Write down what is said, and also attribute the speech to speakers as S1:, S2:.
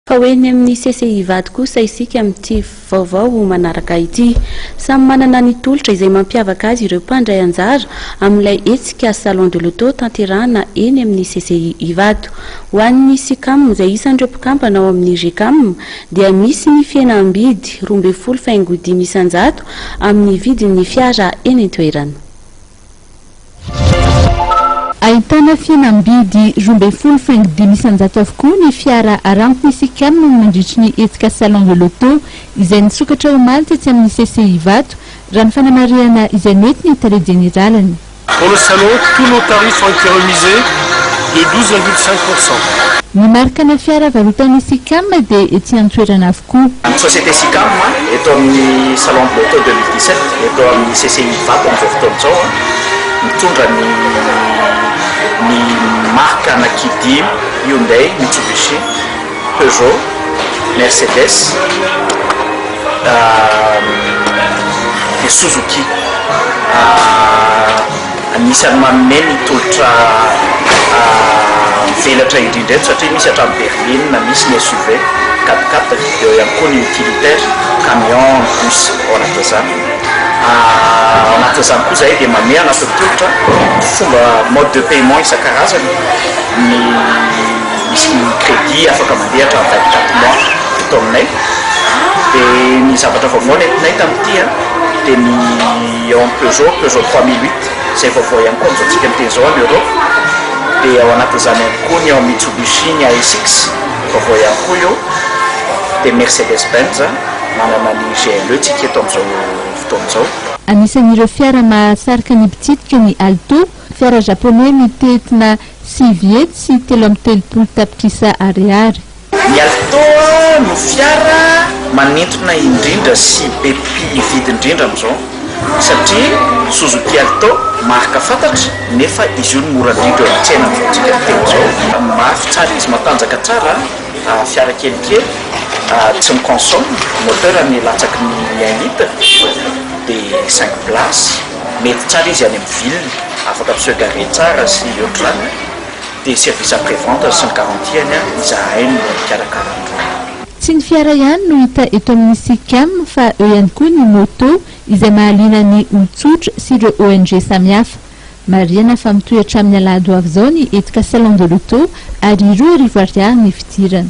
S1: Fa ho eny amin'ny CCI Vady kosa isika amin'ity vaovao manaraka ity. Samy manana ny tolotra izay mampiavaka azy ireo mpandray anjara amin'ilay hetsika Salon de l'Auto tanterahana eny amin'ny CCI Ivato. Ho an'ny Sicam izay isan'ireo mpikambana ao amin'ny Gecam dia misy ny fihenam-bidy roa ambin'ny folo faingo dimy isan-jato amin'ny vidin'ny fiara eny an-toerana.
S2: Ahitana fihenam-bidy roa ambin'ny folo faingo dimy isan-jato avokoa ny fiara Aramco-Isicam nandritry ny hetsika Salon de l'Auto izay nisokatra omaly tetsy amin'ny CCI Ivato, raha ny fanamarihana izay nety ny tale jeneraliny. Pour le salon,
S3: tous nos tarifs ont été remisés de douze virgule cinq pour cent. Ny marikana
S2: fiara varotan'ny Isicam dia etsy an-toerana avokoa. Koa. Ny société Sicam
S4: eto amin'ny Salon de l'auto deux mille dix sept eto amin'ny CCI Ivato amin'izao fotoana izao an, mitondra ny ny marque ana Kidim, Hyundai, Mitsubishi, Peugeot, Mercedes, dia Suzuki. Anisan'ny manome ny tolotra mivelatra indrindra eto satria misy hatramin'ny berline, misy ny SUV, quat-quat, eo ihany koa ny utilitaire, camion, ny bus ao anatin'izany. Ao anatin'izany koa izahay dia manome anatin'ny tolotra fomba mode de paiement isan-karazany, ny misy ny crédit afaka mandeha hatramin'ny vingt quatre mois eto aminay. Dia ny zavatra vaovao nentinay tamin'ity dia ny. Ny ao amin'ny Peugeot, Peugeot trois mille huit, izay vaovao ihany koa amin'izao antsika miteny izao any Europe, dia ao anatin'izany ihany koa ny ao amin'ny Mitsubishi, ny ASX, vaovao ihany koa io, dia Mercedes Benz, manana ny GLE tsika eto amin'izao fotoana izao. Anisan'ireo fiara
S2: mahasarika ny mpitsidika ny Alto, fiara Japoney mitentina sivy hetsy sy telo amby telopolo tapitrisa ariary. Ny Alto
S4: no fiara manintona indrindra sy be mpividy indrindra amin'izao satria Suzuki Alto marika fantatra nefa izy io no mora indrindra eo amin'ny tsena amin'izao antsika fiteny izao. Mafy tsara izy, matanjaka tsara, fiara kelikely, tsy mi-consomme, moteur ny latsaky ny un litre dia cinq places, mety tsara izy any amin'ny ville, afaka mi-se garer tsara sy ohatr'izany. dia service après vente sy ny garantie-ny izahay no mikarakara ny trano. Tsy ny fiara
S2: ihany no hita eto amin'ny Sicam fa eo ihany koa ny moto izay mahaliana ny olon-tsotra sy ireo ONG samihafa. Marihana fa mitohy hatramin'ny alahady ho avy izao ny hetsika Salon de l'auto ary roa arivo ariary ny fidirana.